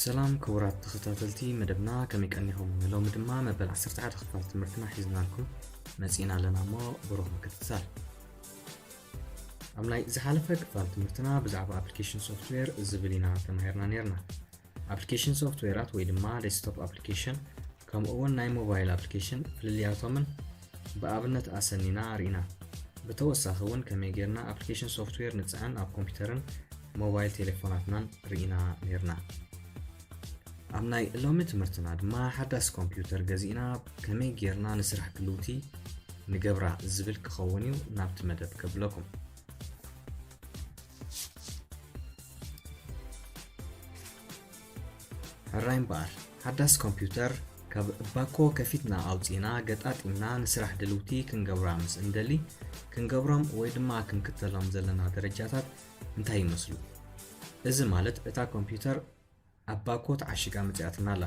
ሰላም ክቡራት ተኸታተልቲ መደብና ከመይ ቀኒኹም ንሎሚ ድማ መበል 11 ክፋል ትምህርትና ሒዝናልኩም መፂእና ኣለና እሞ ብሩኽ ምክትታል ኣብ ናይ ዝሓለፈ ክፋል ትምህርትና ብዛዕባ ኣፕሊኬሽን ሶፍትዌር ዝብል ኢና ተማሂርና ነርና ኣፕሊኬሽን ሶፍትዌራት ወይ ድማ ዴስክቶፕ ኣፕሊኬሽን ከምኡ እውን ናይ ሞባይል ኣፕሊኬሽን ፍልልያቶምን ብኣብነት ኣሰኒና ርኢና ብተወሳኺ እውን ከመይ ጌርና ኣፕሊኬሽን ሶፍትዌር ንፅዕን ኣብ ኮምፒውተርን ሞባይል ቴሌፎናትናን ርኢና ነርና ኣብ ናይ ሎሚ ትምህርትና ድማ ሓዳስ ኮምፒውተር ገዚእና ከመይ ጌርና ንስራሕ ክልውቲ ንገብራ ዝብል ክኸውን እዩ ናብቲ መደብ ከብለኩም ሕራይ እምበኣር ሓዳስ ኮምፒውተር ካብ ባኮ ከፊትና ኣውፂእና ገጣጢምና ንስራሕ ድልውቲ ክንገብራ ምስ እንደሊ ክንገብሮም ወይ ድማ ክንክተሎም ዘለና ደረጃታት እንታይ ይመስሉ? እዚ ማለት እታ ኮምፕዩተር ኣብ ባኮ ተዓሺጋ መጺኣትና ኣላ፣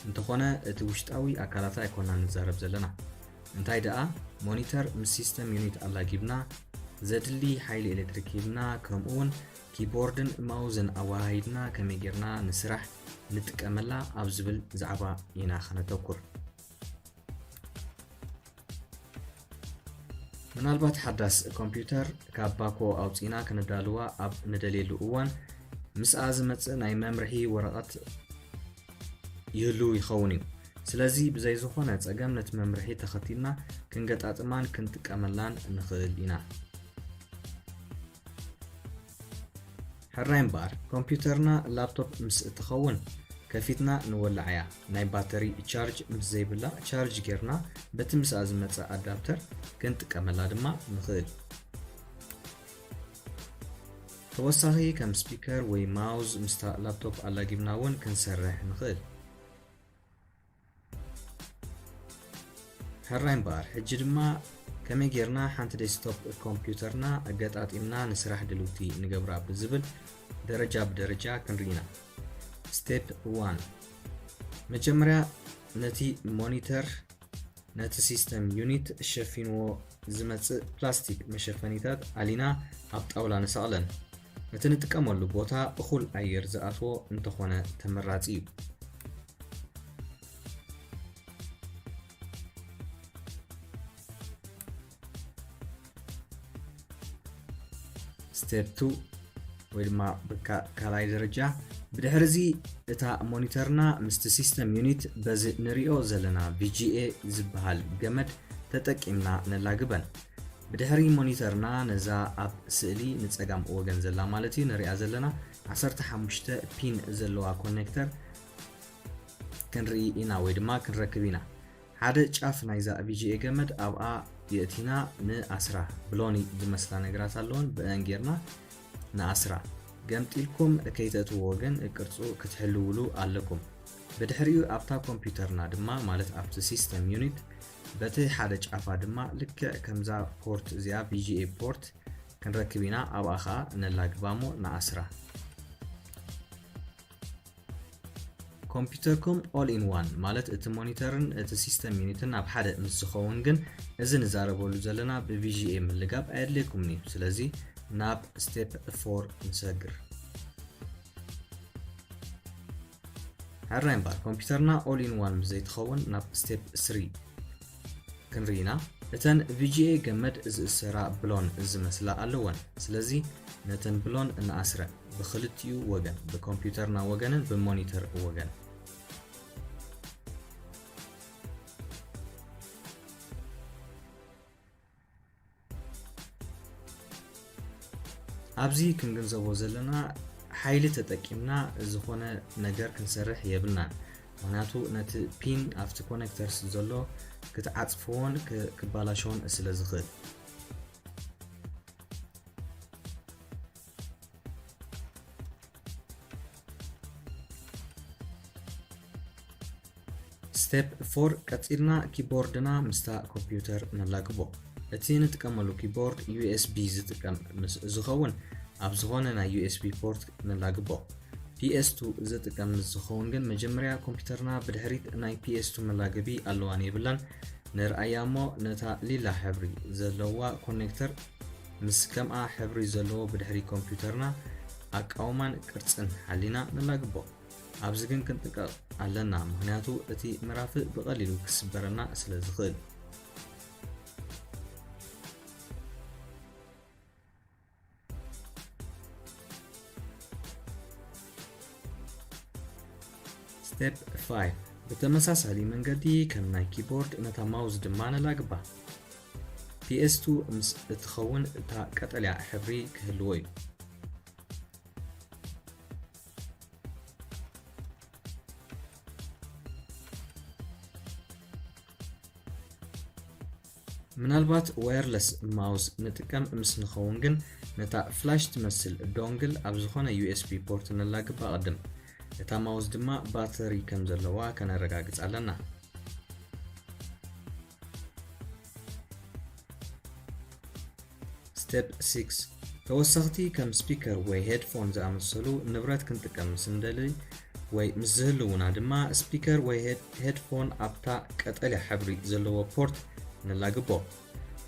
እንተኾነ እቲ ውሽጣዊ ኣካላታ ኣይኮናን ንዛረብ ዘለና። እንታይ ደኣ ሞኒተር ምስ ሲስተም ዩኒት ኣላጊብና፣ ዘድሊ ሓይሊ ኤሌክትሪክ ሂብና ከምኡ'ውን ኪቦርድን ማውዝን ኣወሃሂድና ከመይ ጌርና ንስራሕ ንጥቀመላ ኣብ ዝብል ዛዕባ ኢና ከነተኩር። ምናልባት ሓዳስ ኮምፒውተር ካብ ባኮ ኣውፂእና ክንዳልዋ ኣብ ንደልየሉ እዋን ምስኣ ዝመፅእ ናይ መምርሒ ወረቐት ይህሉ ይኸውን እዩ ስለዚ ብዘይ ዝኾነ ፀገም ነቲ መምርሒ ተኸቲልና ክንገጣጥማን ክንጥቀመላን ንኽእል ኢና ሕራይ እምበኣር ኮምፕዩተርና ላፕቶፕ ምስ እትኸውን ከፊትና ንወልዓያ፣ ናይ ባተሪ ቻርጅ ምስ ዘይብላ ቻርጅ ጌርና በቲ ምስኣ ዝመጸ ኣዳፕተር ክንጥቀመላ ድማ ንኽእል። ተወሳኺ ከም ስፒከር ወይ ማውዝ ምስታ ላፕቶፕ ኣላጊብና እውን ክንሰርሕ ንኽእል። ሕራይ እምበኣር ሕጂ ድማ ከመይ ጌርና ሓንቲ ዴስክቶፕ ኮምፒውተርና ኣገጣጢምና ንስራሕ ድልውቲ ንገብራ ብዝብል ደረጃ ብደረጃ ክንርኢ ኢና ስቴፕ 1 መጀመርያ ነቲ ሞኒተር ነቲ ሲስተም ዩኒት ሸፊንዎ ዝመጽእ ፕላስቲክ መሸፈኒታት ኣሊና ኣብ ጣውላ ንሰቕለን። እቲ ንጥቀመሉ ቦታ እኹል ኣየር ዝኣትዎ እንተኾነ ተመራጺ እዩ። ስቴፕ ቱ ወይ ድማ በቃ ካልኣይ ደረጃ ብድሕሪ እዚ እታ ሞኒተርና ምስቲ ሲስተም ዩኒት በዚ ንሪኦ ዘለና ቪጂኤ ዝበሃል ገመድ ተጠቂምና ነላግበን ብድሕሪ ሞኒተርና ነዛ ኣብ ስእሊ ንፀጋም ወገን ዘላ ማለት እዩ ንሪኣ ዘለና 15 ፒን ዘለዋ ኮኔክተር ክንርኢ ኢና ወይ ድማ ክንረክብ ኢና ሓደ ጫፍ ናይዛ ቪጂኤ ገመድ ኣብኣ የእቲና ንኣስራ ብሎኒ ዝመስላ ነገራት ኣለወን ብእን ጌርና ንኣስራ ገምጢልኩም ከይተእትዎ ግን ቅርጹ ክትሕልውሉ ኣለኩም ብድሕሪኡ ኣብታ ኮምፒውተርና ድማ ማለት ኣብቲ ሲስተም ዩኒት በቲ ሓደ ጫፋ ድማ ልክዕ ከምዛ ፖርት እዚኣ ቪጂኤ ፖርት ክንረክብ ኢና ኣብኣ ከዓ ነላግባ እሞ ንኣስራ ኮምፒተርኩም ኦል ኢን ዋን ማለት እቲ ሞኒተርን እቲ ሲስተም ዩኒትን ኣብ ሓደ ምስ ዝኸውን ግን እዚ ንዛረበሉ ዘለና ብቪዥኤ ምልጋብ ኣየድልየኩምን እዩ ስለዚ ናብ ስቴፕ 4 ንሰግር ሕራይ እምበር ኮምፒተርና ኦል ኢን ዋን ምስ ዘይትኸውን ናብ ስቴፕ 3 ክንርኢ ኢና እተን ቪጂኤ ገመድ ዝእሰራ ብሎን ዝመስላ ኣለወን ስለዚ ነተን ብሎን ንኣስረ ብክልቲኡ ወገን ብኮምፒውተርና ወገንን ብሞኒተር ወገን ኣብዚ ክንግንዘቦ ዘለና ሓይሊ ተጠቂምና ዝኾነ ነገር ክንሰርሕ የብልናን ምክንያቱ ነቲ ፒን ኣብቲ ኮነክተርስ ዘሎ ክትዓፅፍዎን ክባላሸዎን ስለ ዝኽእል ስቴፕ ፎር ቀጺልና ኪቦርድና ምስታ ኮምፒውተር ነላግቦ እቲ ንጥቀመሉ ኪቦርድ ዩኤስቢ ዝጥቀም ምስ ዝኸውን ኣብ ዝኾነ ናይ ዩኤስቢ ፖርት ነላግቦ ፒኤስቱ ዝጥቀም ምስ ዝኸውን ግን መጀመርያ ኮምፒውተርና ብድሕሪት ናይ ፒኤስቱ መላገቢ ኣለዋን የብላን ንርኣያ እሞ ነታ ሊላ ሕብሪ ዘለዋ ኮኔክተር ምስ ከምኣ ሕብሪ ዘለዎ ብድሕሪ ኮምፒዩተርና ኣቃውማን ቅርጽን ሓሊና ነላግቦ። ኣብዚ ግን ክንጥንቀቕ ኣለና ምኽንያቱ እቲ ምራፍ ብቐሊሉ ክስበረና ስለ ዝኽእል። Step 5 ብተመሳሳሊ መንገዲ ከም ናይ ኪቦርድ ነታ ማውዝ ድማ ነላግባ። PS2 ምስ እትኸውን እታ ቀጠልያ ሕብሪ ክህልዎ እዩ። ምናልባት ዋየርለስ ማውስ ንጥቀም ምስ ንኸውን ግን ነታ ፍላሽ ትመስል ዶንግል ኣብ ዝኾነ ዩኤስቢ ፖርት ነላግብ ኣቐድም። እታ ማውስ ድማ ባተሪ ከም ዘለዋ ከነረጋግጽ ኣለና። Step 6 ተወሰኽቲ ከም ስፒከር ወይ ሄድፎን ዝኣመሰሉ ንብረት ክንጥቀም ምስ እንደልይ ወይ ምስ ዝህልውና ድማ ስፒከር ወይ ሄድፎን ኣብታ ቀጠልያ ሕብሪ ዘለዎ ፖርት ንላግቦ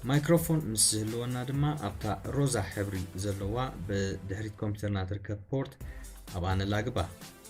ማይክሮፎን ምስ ዝህልወና ድማ ኣብታ ሮዛ ሕብሪ ዘለዋ ብድሕሪት ኮምፒውተርና ትርከብ ፖርት ኣብኣ ንላግባ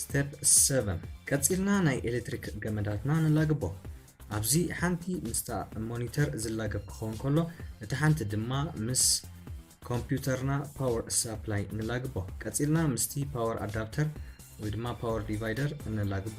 ስቴፕ 7 ቀፂልና ናይ ኤሌክትሪክ ገመዳትና ንላግቦ ኣብዚ ሓንቲ ምስታ ሞኒተር ዝላገብ ክኸውን ከሎ እቲ ሓንቲ ድማ ምስ ኮምፒውተርና ፓወር ሳፕላይ ንላግቦ ቀፂልና ምስቲ ፓወር ኣዳፕተር ወይ ድማ ፓወር ዲቫይደር ንላግቦ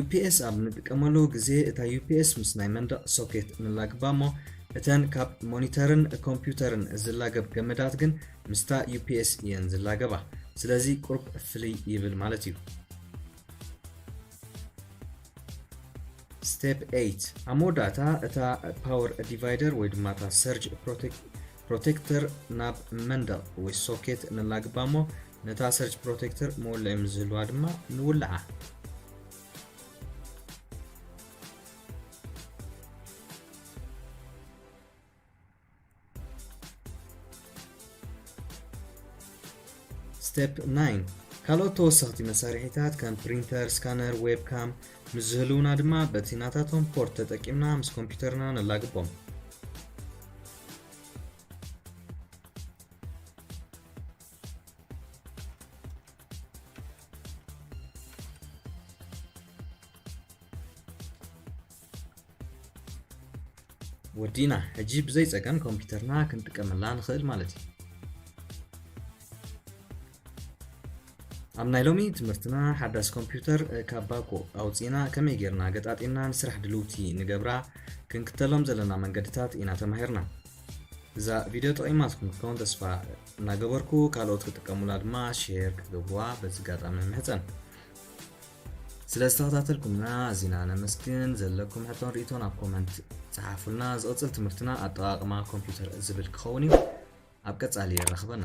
UPS ኣብ ንጥቀመሉ ግዜ እታ UPS ምስ ናይ መንደቕ ሶኬት ንላግባ እሞ እተን ካብ ሞኒተርን ኮምፒውተርን ዝላገብ ገመዳት ግን ምስታ UPS እየን ዝላገባ ስለዚ ቁርብ ፍልይ ይብል ማለት እዩ Step 8 ኣብ መወዳእታ እታ ፓወር ዲቫይደር ወይ ድማ እታ ሰርጅ ፕሮቴክተር ናብ መንደቕ ወይ ሶኬት ነላግባ እሞ ነታ ሰርጅ ፕሮቴክተር መወልዒ ምስ ዝህልዋ ድማ ንውልዓ Step 9 ካልኦት ተወሰኽቲ መሳርሒታት ከም ፕሪንተር፣ ስካነር፣ ዌብካም ምስ ዝህልውና ድማ በቲ ናታቶም ፖርት ተጠቂምና ምስ ኮምፒውተርና ነላግቦም። ወዲእና ሕጂ ብዘይ ጸገም ኮምፒተርና ክንጥቀመላ ንኽእል ማለት እዩ ኣብ ናይ ሎሚ ትምህርትና ሓዳስ ኮምፒውተር ካብ ባኮ ኣውፂእና ከመይ ጌርና ገጣጢምና ንስራሕ ድልውቲ ንገብራ ክንክተሎም ዘለና መንገድታት ኢና ተማሂርና እዛ ቪድዮ ጠቒማትኩም ክትከውን ተስፋ እናገበርኩ ካልኦት ክጥቀሙላ ድማ ሼር ክትገብርዋ በዚ ኣጋጣሚ ምሕፀን ስለ ዝተኸታተልኩምና ኣዚና ነመስግን። ዘለኩም ሕቶን ርኢቶን ኣብ ኮመንት ጽሓፉልና። ዝቕጽል ትምህርትና ኣጠቓቕማ ኮምፒውተር ዝብል ክኸውን እዩ። ኣብ ቀጻሊ የራኽበና።